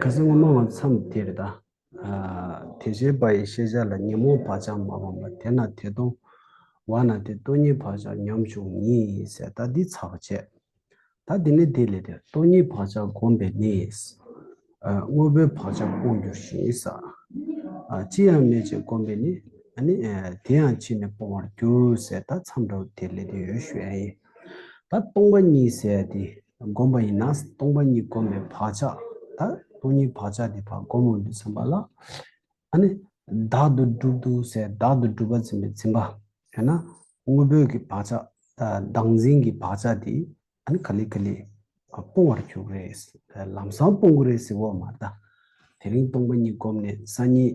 གལ་སྲིད་སྔོན་མ་བ་མཚམས་དེར་ད་དེ་བྱས་པ་ཡི་ཤེས་བྱ་ལ་ཉོན་མོངས་བག་ཆགས་མ་བམ་པ་དེ་ན་དེ་སྟོང་བ་ན་དེ་སྟོང་ཉིད་བག་ཆགས་ཉམ་ཆུང་ཉིད་ཟད་ད་འདི་ཚ་བ་བྱས་ད་དེ་ནི་དེ་ལས་དེ་སྟོང་ཉིད་བག་ཆགས་བསྒོམས་པས་ནི་དངོས་པོའི་བག་ཆགས་སྤོང་འགྱུར་ཞིང་ས་ཅི་ཡང་མེད་ཅེས་བསྒོམས་པས་ནི་དེ་ཡང་ཕྱིས་ནས་སྤོང་བར་འགྱུར་ཟད་ད་མཚམས་འདྲ་བ་དེ་ལས་དེ་ཡོད་ཞུ་ཨེ་ཡིན། ད་སྟོང་པ་ཉིད་ཟད་དེ་བསྒོམ་པ་ཡིན་ན་སྟོང་པ་ཉིད་བསྒོམ་པའི་བག་ཆགས་དང་སྟོང་ཉིད་བག་ཆགས་དེ་བར་བསྒོམ་འོང་དུ་འཛིན་པ་ལ་ཨ་ནི་བདག་ཏུ་བསྒྲུབ་ཏུ་ཟད་བདག་ཏུ་སྒྲུབ་པ་འཛིན་པའི་འཛིན་པ་ཡོད་ན་དངོས་པོའི་གི་བག་ཆགས་བདག་འཛིན་གྱི་བག་ཆགས་དེ་ཨ་ནི་ག་ལེ་ག་ལེ་སྤོང་བར་གྱུར་རེ་ལམ་སང་སྤོང་གི་རེ་ཟེར་བ་མ་གདའ། དེ་རིང་སྟོང་པ་ཉིད་བསྒོམས་ནས་སང་ཉིད་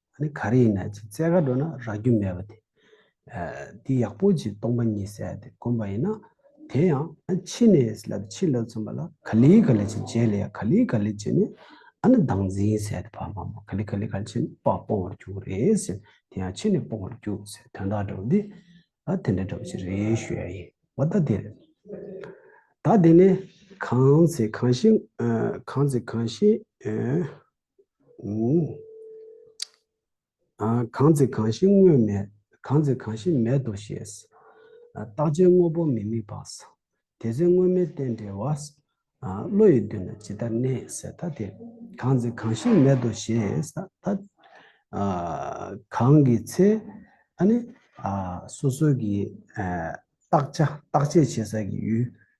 ནི་ག་རེ་ཡིན་ན་ཅིག་རྩལ་དགའ་འགྲོ་ན་རག་རྒྱུ་མེད་པ་དེ། འདི་ཡག་པོ་ཅིག་སྟོང་པ་ཉིད་བསལ་ཏེ་བསྒོམ་པ་ཡིན་ན། དེ་ཡང། ཕྱི་ནས་ལབ་ཕྱི་ལབ་ཙམ་པ་ལ་ག་ལི་ག་ལི་ཅིག་བྱས་ལ་ཡང་ག་ལི་ག་ལི་བྱས་ནས། ཨ་ནི་བདག་འཛིན་བསལ་ཏེ་བར་མ་མོ་ག་ལི་ག་ལི་ག་ལི་བྱས་ནས་པ་སྤོང་བར་འགྱུར་རེད་ཟེར། དེ་ཡང་ཕྱི་ནས་སྤོང་བར་འགྱུར་ཟེར་དོན་དག་འདྲ་བོ་འདི། ཨ་དེ་འདྲ་འདྲ་བོ་ཅིག་རེད་ཞུ་ཡ་ཡིན། བ་ད་དེ་རེད། ད་དེ་ནས་གང་ཚེ་གང་ཞིག་གང་ཚེ་གང་ཞིག། གང་ཚེ་གང་ཞིག་དངོས་མེད། གང་ཚེ་གང་ཞིག་མེད་དོ་ཞེས། རྟག་ཆད་དངོས་པོ་མི་དམིགས་པས། དེ་ཚེ་དངོས་མེད་རྟེན་འབྲེལ་བ། བློ་ཡི་མདུན་ན་ཇི་ལྟར་གནས། ཟད་མཐའ་དེ། གང་ཚེ་གང་ཞིག་མེད་དོ་ཞེས། གང་གི་ཚེ། སོ་སོ་ཀྱི། རྟག་ཆ་རྟག་ཆད་བྱེད་ས་ཀྱི་ཡུལ།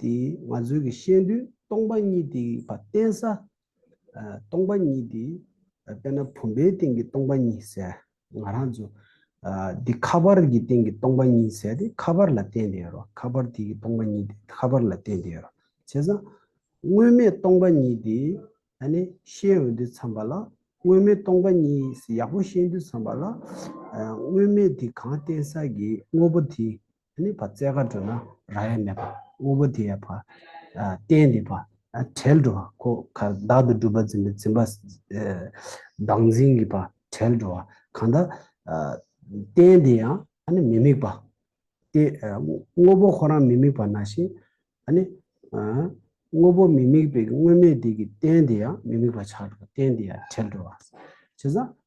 དེས་ང་ཚོའི་གི་ཤེས་འདོད་སྟོང་པ་ཉིད་དེ་བ་བསྟན་ས། སྟོང་པ་ཉིད་དེ་དཔེར་ན་བུམ་པའི་སྟེང་གི་སྟོང་པ་ཉིད་ཟེར། ང་རང་ཚོ་འདི་ཁ་པར་གི་སྟེང་གི་སྟོང་པ་ཉིད་ཟེར་ཏེ་ཁ་པར་ལ་བསྟན་བསྡད་རོགས་ཁ་པར་དེ་གི་སྟོང་པ་ཉིད་དེ་ཁ་པར་ལ་བསྟན་བསྡད་རོགས་བྱས་ཙང། དངོས་མེད་སྟོང་པ་ཉིད་དེ་ད་ནི་ཤེས་འོས་འདོད་འཚམས་པ་ལ་དངོས་མེད་སྟོང་པ་ཉིད་ཡག་པོ་ཤེས་འདོད་འཚམས་པ་ལ། དངོས་མེད་དེ་གང་བསྟན་ས་གི་དངོས་པོ་དེ་ནི་བ་བཙས་ཁ་འགྲོས་ན་ར་ཡ་མེད་པ་དབུ་བ་དེ་ཡ་བ་སྟན་དེ་བ་བྲལ་འགྲོ་བ་ཁོ་ག་བདག་ཏུ་སྒྲུབ་པ་འཛིན་པའི་འཛིན་པ་བདག་འཛིན་གྱི་བ་བྲལ་འགྲོ་བ་གང་དག་སྟན་དེ་ཡང་ནི་མི་དམིགས་པ་སྟེ་དངོས་པོ་ཁོ་རང་མི་དམིགས་པ་ན་བཞིན་ནི་དངོས་པོ་མི་དམིགས་པའི་དངོས་མེད་དེ་ཀྱི་སྟན་དེ་ཡང་མི་དམིགས་པ་ཆགས་འགྲོ་བ་སྟན་དེ་ཡང་བྲལ་འགྲོ་བ་བྱས་ཙང་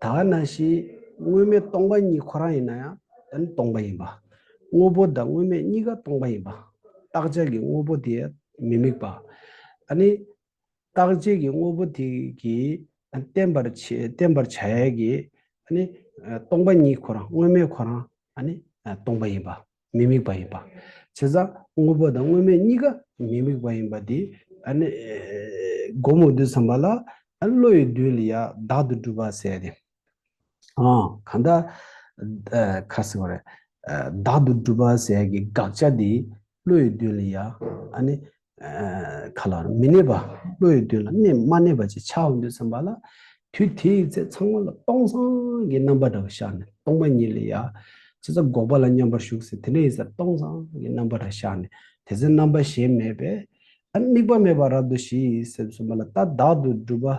ད་ག་ན་ཞིག་དངོས་མེད་སྟོང་པ་ཉིད་ཁོ་རང་ཡིན་ན་ཡང་ད་ནི་སྟོང་པ་ཡིན་པ། དངོས་པོ་དང་དངོས་མེད་གཉིས་ཀ་སྟོང་པ་ཡིན་པ། རྟག་ཆད་ཀྱི་དངོས་པོ་དེ་མི་དམིགས་པ། ད་ནི་རྟག་ཆད་ཀྱི་དངོས་པོ་དེ་གྱིས་བསྟན་པར་བྱ་ཡས་ཀྱི། ད་ནི་སྟོང་པ་ཉིད་ཁོ་རང་དངོས་མེད་ཁོ་རང་ད་ནི་སྟོང་པ་ཡིན་པ། མི་དམིགས་པ་ཡིན་པ། བྱེ་བཟའ་དངོས་པོ་དང་དངོས་མེད་གཉིས་ཀ་མི་དམིགས་པ་ཡིན་པ་དེ། སྒོ་མོ་དུ་བསམ་པ་ལ་བློ་ཡི་རྡུལ་ལ་ཡང་བདག་ཏུ་སྒྲུབ་པར་ཟད་དེ། གང་དག་ཁ་ཟེར་བ་རེད། བདག་ཏུ་སྒྲུབ་པར་ཟད་ཀྱི་དགག་བྱ་དེ་བློ་ཡི་རྡུལ་ལ་ཡང་ག་ལ་བར་མི་གནས་པ་བློ་ཡི་དོན་ལ་གནས་མ་གནས་པ་ཅིག་ཆགས་འོང་དུས་བསམ་པ་ལ། དུས་དེའི་ཚེ་ཚང་མ་ལ་སྟོང་སང་གི་རྣམ་པ་འདྲ་བ་ཤར་ནས་སྟོང་པ་ཉིད་ལས་ཡ། ཇི་སྲིད་འགོག་པ་ལ་མཉམ་པར་ཞུགས་ཟིན་དེ་འདྲའི་ཡིད་གསལ་སྟོང་སང་གི་རྣམ་པ་འདྲ་ཤར་ནས་དེ་ཚེ་རྣམ་པ་གཞན་མེད་པས། དམིགས་པ་མེད་པར་རབ་ཏུ་ཞི་ཡི་སེམས་གསུམ་པ་ལ་ལྟ་བདག་ཏུ་སྒྲུབ་པ་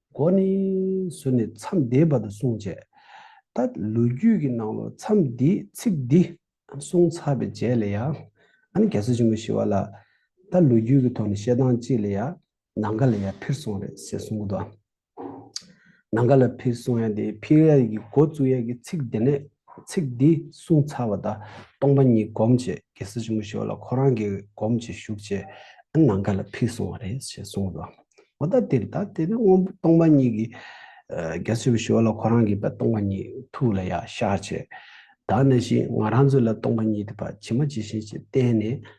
སྒོ་ནི། གཟུར་ནས་མཚམས་འདས་བར་དུ་གསུངས། ཅེས་ད་ལུས་རྒྱུད་ཀྱི་ནང་ལོ་མཚམས་འདིས་ཚིག་འདི་གསུངས་ཚར་བའི་རྗེས་ལ་ཡང། ཨ་ནི་རྒྱ་མཚོ་ཆེན་པོ་ཞི་བ་ལ། ད་ལུས་རྒྱུད་ཀྱི་ཐོག་ནས་བཤད་སྟངས་གཅིག་ལ་ཡང། ནང་ག་ལ་ཡང་ཕིར་གསུངས་རེད་ཟེར་གསུངས་གི་འདུག་ཨང། ནང་ག་ལ་ཕིར་གསུངས་ཡ་དེ་ཕིར་ཡ་ཡི་འགོ་བཙུགས་ཡ་གི་ཚིག་འདི་ནས་ཚིག་འདི་གསུངས་ཚར་བ་དང་སྟོང་པ་ཉིད་སྒོམ་བྱེད་ཀྱི་སྲི་ཆེན་པོ་ཞིག་ལ་ཁོ་རང་གི་སྒོམ་བྱེད་ཞུགས་ཆེད་ཨ་ནང་ག་ལ་ཕིགས་སོང་བ་རེད་ཞེས་གསུངས་སོ། འོ་ད་འདིར་ད་དེ་ནི་དངོས་པོ་སྟོང་པ་ཉིད་ཀྱི་རྒྱ་མཚོས་པོ་ཞུགས་ལ་ཁོ་རང་གི་བ་སྟོང་པ་ཉིད་ཐུགས་ལ་ཡང་ཤར་ཆེད་ད་ནི་ཞིག་ང་རང་ཚོའི་ལ་སྟོང་པ་ཉིད་དེ་བ་ཇི་མ་ཇི་བཞིན་ཞིག་བསྟན་ནས་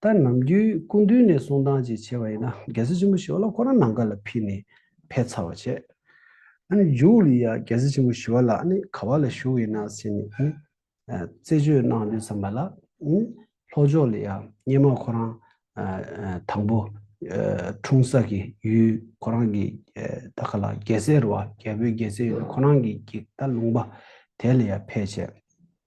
ད་ནམ་རྒྱུའི་སྐུ་མདུན་ནས་གསུང་སྟངས་ཅིག་བྱས་པ་ཡིན་ན་རྒྱལ་སྲིད་ཆེན་པོ་ཞི་བ་ལ་ཁོ་རང་ནང་ཁ་ལ་ཕིད་ནས་ཕེ་ཚ་བ་བྱས། ཨ་ནི་ཇུའུ་ལི་ཡ་རྒྱལ་སྲིད་ཆེན་པོ་ཞི་བ་ལ་ཨ་ནི་ག་བ་ལ་ཞུགས་ཡིན་ན་ཟེར་ནས་ཨ་ནི་རྩད་གཅོད་གནང་འདུག་བསམ་པ་ལ་ཨ་ནི་ལྷོ་ཕྱོགས་ལ་ཡང་སྙེ་མ་ཁོ་རང་དང་པོ་འཁྲུངས་ས་གི་ཡུལ་ཁོ་རང་གི་ད་ག་ལ་རྒྱལ་སྲས་རུ་བ་རྒྱལ་པོའི་རྒྱལ་སྲས་ཡོད་པའི་ཁོ་རང་གི་གིག་ད་ལུང་པ་དེ་ལ་ཡང་ཕེ་བྱས།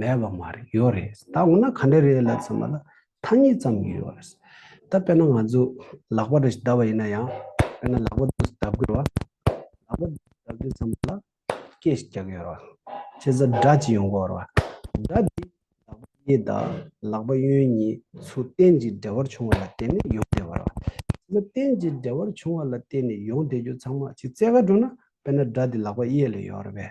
མེད་པ་མ་རེད་ཡོད་རེད་ད་འོ་ན་ག་འདྲ་རེད་ལབ་ཙམ་མ་ལ་ཐ་སྙད་ཙམ་གྱི་ཡོད་རེད་ད་དཔེར་ན་ང་ཚོ་ལག་པ་རེ་ཞིག་བརྡབ་པ་ཡིན་ན་ཡང་དཔེར་ན་ལག་པ་འདི་བརྡབ་དགོས་རེད་ལག་པ་འདི་བརྡབ་དུས་ཙམ་མ་ལ་སྐད་ཞིག་རྒྱག་གི་ཡོད་རེད་བྱས་ཙང་སྒྲ་ཅིག་ཡོང་དགོས་རེད་སྒྲ་འདི་ལག་པ་གཡས་དང་ལག་པ་གཡོན་གཉིས་ཚུར་གཏན་གྱི་འབྲེལ་བར་བྱུང་བ་ལ་བརྟེན་ནས་ཡོང་བསྡད་པ་རེད་བྱས་ཙང་གཏན་གྱི་འབྲེལ་བར་བྱུང་བ་ལ་བརྟེན་ནས་ཡོང་བསྡད་རྒྱུ་ཚང་མ་ཅིག་རྩེ་གར་འགྲོ་ན་དཔེར་ན་སྒྲ་འདི་ལག་པ་གཡས་ལ་ཡོད་རེད་པས་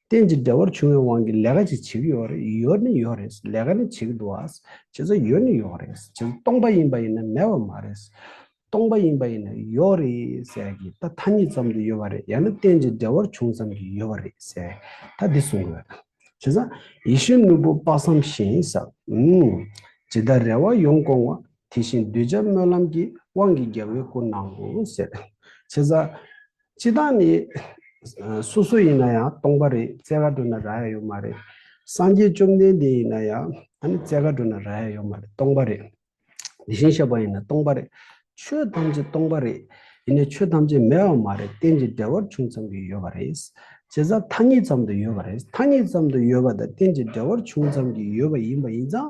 གཏན་གྱི་བདེ་བར་བྱུང་བའི་དབང་གིས་ལས་ཀ་ཅིག་བྱེད་ཀྱི་ཡོད་རེད་ཡོད་ནི་ཡོད་རེད། ལས་ཀ་ནི་བྱེད་ཀྱི་འདུག་ཨཱ། བྱེད་ས་ཡོད་ནི་ཡོད་རེད། བྱེད་ས་སྟོང་པ་ཡིན་པ་ཡིན་ན་མེད་བ་མ་རེད། སྟོང་པ་ཡིན་པ་ཡིན་ན་ཡོད་རེད་ཟེར་གྱི་ད་ཐ་སྙད་ཙམ་དུ་ཡོད་པ་རེད་ཡང་ན་གཏན་གྱི་བདེ་བར་བྱུང་ཙམ་གྱི་ཡོད་པ་རེད་ཟེར་ད་འདི་གསུང་དགོས། བྱེད་ས། ཡེ་ཤེས་ནོར་བུ་དཔག་བསམ་ཤིང་བསགས། ཇི་ལྟར་རེ་བ་ཡོངས་སྐོང་བ། དེ་བཞིན་གདུལ་བྱ་སྨོན་ལམ་གྱི་དབང་གིས་རྒྱལ་བའི་སྐུར་སྣང་ངོ། བྱེད་ས། སྤྱི་བདག་ནི། སོ་སོ་ཡིན་ན་ཡང་སྟོང་པ་རེད་རྩལ་དགའ་འགྲོ་ན་རག་ཡ་ཡོད་མ་རེད། སངས་རྒྱས་བཅོམ་ལྡན་འདས་ཡིན་ན་ཡང་རྩལ་དགའ་འགྲོ་ན་རག་ཡ་ཡོད་མ་རེད་སྟོང་པ་རེད། དེ་བཞིན་གཤེགས་པ་ཡིན་ན་སྟོང་པ་རེད། ཆོས་ཐམས་ཅད་སྟོང་པ་རེད། ཡིན་ནས་ཆོས་ཐམས་ཅད་མེད་བ་མ་རེད་རྟེན་ཅིང་འབྲེལ་བར་བྱུང་ཙམ་གྱིས་ཡོད་པ་རེད། བྱས་ཙང་མཐའ་གཉིས་ཙམ་དུ་ཡོད་པ་རེད་མཐའ་གཉིས་ཙམ་དུ་ཡོད་པ་དང་རྟེན་ཅིང་འབྲེལ་བར་བྱུང་ཙམ་གྱིས་ཡོད་པ་ཡིན་པ་ཡིན་ཙང་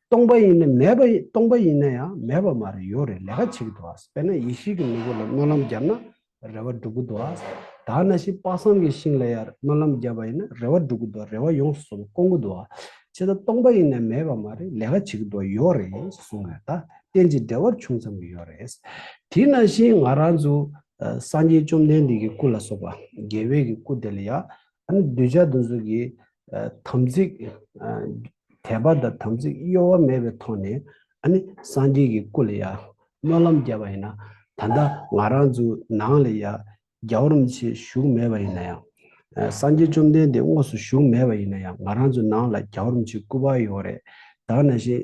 སྟོང་པ་ཡིན་ན་མེད་པ་སྟོང་པ་ཡིན་ན་ཡང་མེད་པ་མ་རེད་ཡོད་རེད་ལས་ཀ་བྱེད་ཀྱི་འདུག་ཨ་དཔེར་ན་ཡེ་ཤེས་ཀྱི་མེ་དགུ་ལ་སྨོན་ལམ་བརྒྱབ་ན་རེ་བ་འགྲུབ་ཀྱི་འདུག་ཨ། ད་ན་བཞིན་དཔག་བསམ་གྱི་ཤིང་ལ་ཡར་སྨོན་ལམ་བརྒྱབ་པ་ཡིན་ན་རེ་བ་འགྲུབ་ཀྱི་འདུག་རེ་བ་ཡོངས་སུ་སྐོང་གི་འདུག་ཨ། ཕྱི་ཟླ་སྟོང་པ་ཡིན་ན་མེད་པ་མ་རེད་ལས་ཀ་བྱེད་ཀྱི་འདུག་ཡོད་རེད་གསུངས་ནས་ད་གཏན་གྱི་འབྲེལ་བར་ཆུང་ཙམ་གྱི་ཡོད་རེད། དེས་ན་བཞིན་ང་རང་ཚོ་སངས་རྒྱས་བཅོམ་ལྡན་འདས་ཀྱི་སྐུ་ལ་སོགས་པ་རྒྱལ་བས་ཀྱི་སྐུ་དེ་ལ་ཡར་ཨ་ནི་གདུལ་བྱ་འདུ་འཛོ་གི་དམ་ཚིག། དད་པ་དང་དམ་ཚིག་གཡོ་བ་མེད་པའི་ཐོག་ནས་ཨ་ནི་སངས་རྒྱས་ཀྱི་སྐུ་ལ་ཡང་སྨོན་ལམ་བརྒྱབ་པ་ཡིན་ན། ད་ལྟ་ང་རང་ཚོའི་ནང་ལ་ཡང་རྒྱ་བོར་མི་ཆེ་བཞུགས་མེད་པ་ཡིན་ན་ཡང། སངས་རྒྱས་བཅོམ་ལྡན་འདས་དངོས་སུ་བཞུགས་མེད་པ་ཡིན་ན་ཡང་ང་རང་ཚོའི་ནང་ལ་རྒྱ་བོར་མི་ཆེ་སྐུ་པར་ཡོད་རེད། དང་ན་བཞིན་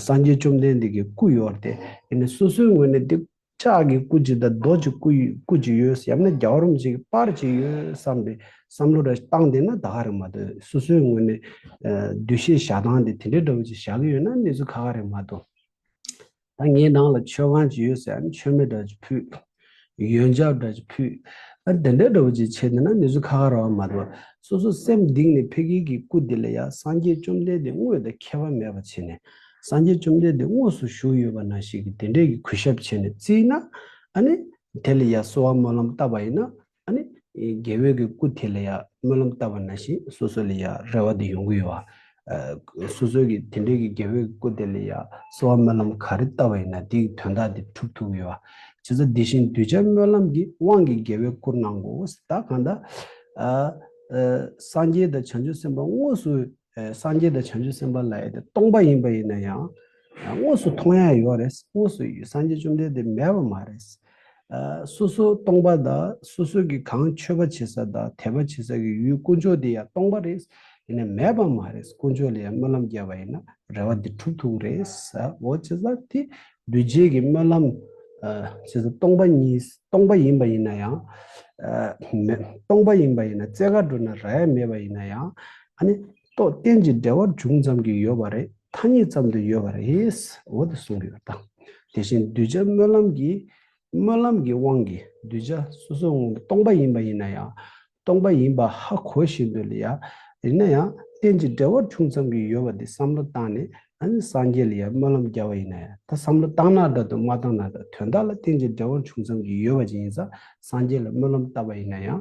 སངས་རྒྱས་བཅོམ་ལྡན་འདས་ཀྱི་སྐུ་ཡོད་རེད་དེ། ཨ་ནི་སོ་སོའི་ངོས་ནས་དེ་ལྕགས་ཀྱི་སྐུ་གཅིག་དང་རྡོ་གཅིག་སྐུ་སྐུ་གཅིག་ཡོད་ཡང་ན་རྒྱ་གར་མི་གཅིག་པར་གཅིག་ཡོད་བསམ་པའི་བསམ་བློ་རེ་བཏང་བསྡད་ན་ད་ག་རེ་མ་གཏོགས་སོ་སོའི་ངོས་ནས་འདུ་ཤེས་བཞག་སྟངས་དེ་དེ་འདྲའི་འདྲ་བོ་ཅིག་བཞག་གི་ཡོད་ན་གནས་ཚུལ་ཁ་ཁ་རེ་མ་གཏོགས། ད་ངས་ནང་ལ་མཆོད་ཁང་ཅིག་ཡོད་ཟེར་ཡང་མཆོད་མེ་འདྲ་ཅིག་ཕུད། ཡོན་ཆབ་འདྲ་ཅིག་ཕུད། ཨ་དེ་འདྲའི་འདྲ་བོ་ཅིག་བྱས་བསྡད་ན་གནས་ཚུལ་ཁ་ཁ་རེ་བ་མ་གཏོགས་སོ་སོ་སེམས་གདིང་ནས་ཕེབས་མཁན་གྱི་སྐུ་དེ་ལ་ཡང་སངས་རྒྱས་བཅོམ་ལྡན་འདས་དངོས་དང་ཁྱད་པར་མེད་པ་བྱས་ནས། སངས་རྒྱས་བཅོམ་ལྡན་འདས་དངོས་སུ་བཞུགས་ཡོད་པ་ན་ཞིག་གིས་དེ་འདྲས་ཀྱི་གུས་ཞབས་བྱས་ནས་བརྩིས་ན། ནི། དེ་ལ་ཡང་གསོལ་བ་སྨོན་ལམ་བཏབ་པ་ཡིན་ན། ནི། དགེ་འོས་ཀྱི་སྐུ་དེ་ལ་ཡང་སྨོན་ལམ་བཏབ་པ་ན་བཞིན་སོ་སོ་ལ་ཡང་རེ་བ་དེ་ཡོང་གི་ཡོད། བ། སོ་སོ་གྱིས་དེ་འདྲས་ཀྱི་དགེ་འོས་ཀྱི་སྐུ་དེ་ལ་ཡང་གསོལ་བ་སྨོན་ལམ་ག་རེ་བཏབ་པ་ཡིན་ན་དེ་ཡི་དོན་དག་དེ་གྲུབ་ཐུབ་ཡོད། བྱས་ཙང་དེ་བཞིན་གདུལ་བྱ་སྨོན་ལམ་གྱི་དབང་གིས་དགེ་བའི་སྐུར་སྣང་གོ། ད་གང་ལྟར། སངས་རྒྱས་དང་བྱང་ཆུབ་སེམས་དཔའ་དངོས་སུ་སངས་རྒྱས་དང་བྱང་ཆུབ་སེམས་དཔའ་ལ་ཡོད་དེ་སྟོང་པ་ཡིན་པ་ཡིན་ན་ཡང། དངོས་སུ་མཐོང་ཡང་ཡོད་རེད། དངོས་སུ་སངས་རྒྱས་བཅོམ་ལྡན་འདས་མེད་པ་མ་རེད། སོ་སོ་སྟོང་པ་དང་སོ་སོ་གིས་གང་མཆོད་པ་བྱེད་ས་དང་དད་པ་བྱེད་ས་ཀྱི་ཡུལ་དཀོན་མཆོག་དེ་ཡང་སྟོང་པ་རེད། ཡིན་ན་མེད་པ་མ་རེད་དཀོན་མཆོག་ལ་ཡང་སྨོན་ལམ་རྒྱབ་པ་ཡིན་ན་རེ་བ་དེ་གྲུབ་ཐུབ་རེད། འོ་ཇི་ལྟར་དེ་འདུས་བྱས་ཀྱི་སྨོན་ལམ་བྱེད་ས་སྟོང་པ་གཉིས་སྟོང་པ་ཡིན་པ་ཡིན་ན་ཡང། སྟོང་པ་ཡིན་པ་ཡིན་ན་རྩེ་གར་འགྲོ་ན་རེ་བ་མེད་པ་ཡིན་ན་ཡང། ཨ་ནི། རྟོགས་ལྡན་གྱི་འགྲེལ་བར་བྱུང་ཙམ་གྱིས་ཡོད་པ་རེད་ཐ་སྙད་ཙམ་དུ་ཡོད་པ་རེད། འོ་དེ་གསུངས་ཡོད་དམ། དེ་བཞིན་གདུལ་བྱ་སྨོན་ལམ་གྱི། སྨོན་ལམ་གྱི་དབང་གིས་གདུལ་བྱ་སོ་སོ་ངོ་བོ་སྟོང་པ་ཡིན་པ་ཡིན་ན་ཡང། སྟོང་པ་ཡིན་པ་ཧ་གོ་བཞིན་དུ་ལ། ཡིན་ན་ཡང་རྟེན་གྱི་འགྲེལ་བར་བྱུང་ཙམ་གྱིས་ཡོད་པ་འདི་བསམ་བློ་བཏང་ནས་ཨ་ནི་སངས་རྒྱས་ལ་ཡང་སྨོན་ལམ་བརྒྱབ་པ་ཡིན་ན་ཡང་ད་བསམ་བློ་བཏང་ན་འདྲ་དུ་མ་བཏང་ན་འདྲ་དོན་དག་ལ་རྟེན་གྱི་འགྲེལ་བར་བྱུང་ཙམ་གྱིས་ཡོད་པ་ཅིག་ཡིན་ཙང་སངས་རྒྱས་ལ་སྨོན་ལམ་བཏབ་པ་ཡིན་ན་ཡང་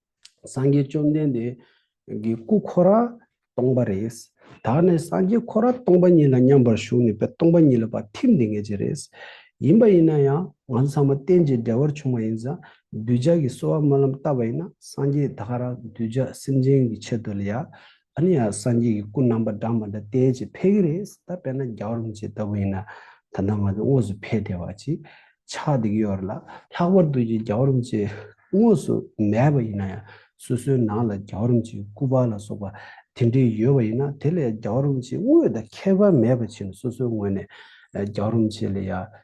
སངས་རྒྱས་བཅོམ་ལྡན་འདས་ཀྱི་སྐུ་འཁོར་ར་སྟོང་པ་རེད། ད་ནི་སངས་རྒྱས་འཁོར་ར་སྟོང་པ་ཉིད་ལ་མཉམ་པར་ཞུགས་ནས་པའི་སྟོང་པ་ཉིད་ལ་བ་ཐིམ་འདི་ངེས་ཅན་རེད། ཡིན་པ་ཡིན་ན་ཡང་ང་ཚོ་ཚང་མ་རྟེན་ཅིང་འབྲེལ་བར་བྱུང་བ་ཡིན་ཙང་གདུལ་བྱ་གྱི་གསོལ་བ་སྨོན་ལམ་བཏབ་པ་ཡིན་ན་སངས་རྒྱས་ད་ག་རང་གདུལ་བྱ་སེམས་ཅན་གྱི་ཆེད་དུ་ལ་ཡ། ཨ་ནི་ཡང་སངས་རྒྱས་ཀྱི་སྐུ་རྣམ་པར་བསྒྲགས་མ་འདྲ་སྟེ་ཅེས་འཕེལ་གྱི་རེད་ད་དཔེར་ན་རྒྱ་གར་འབྱེད་ལྟ་བུ་ཡིན་ན་ད་ལྟ་ང་ཚོས་དངོས་སུ་འཕེལ་བདེ་བ་ཅིག་ཆགས་འདུག་ཡོད་རེད་ལ། ལྷག་པར་དུ་ཡིན་རྒྱ་གར་འབྱེད་དངོས་སུ་མེད་པ་ཡིན་ན་ཡང་སོ་སོའི་ནང་ལ་རྒྱ་གར་འབྱེད་སྐུ་པར་ལ་སོགས་པ་དེ་འདྲའི་ཡོད་པ་ཡིན་ན་དེ་ལས་རྒྱ་གར་འབྱེད་དངོས་དང་ཁྱད་པར་མེད་པ་བྱས་ནས་སོ་སོའི་ངོས་ནས་རྒྱ་གར་འབྱེད་ལ་ཡང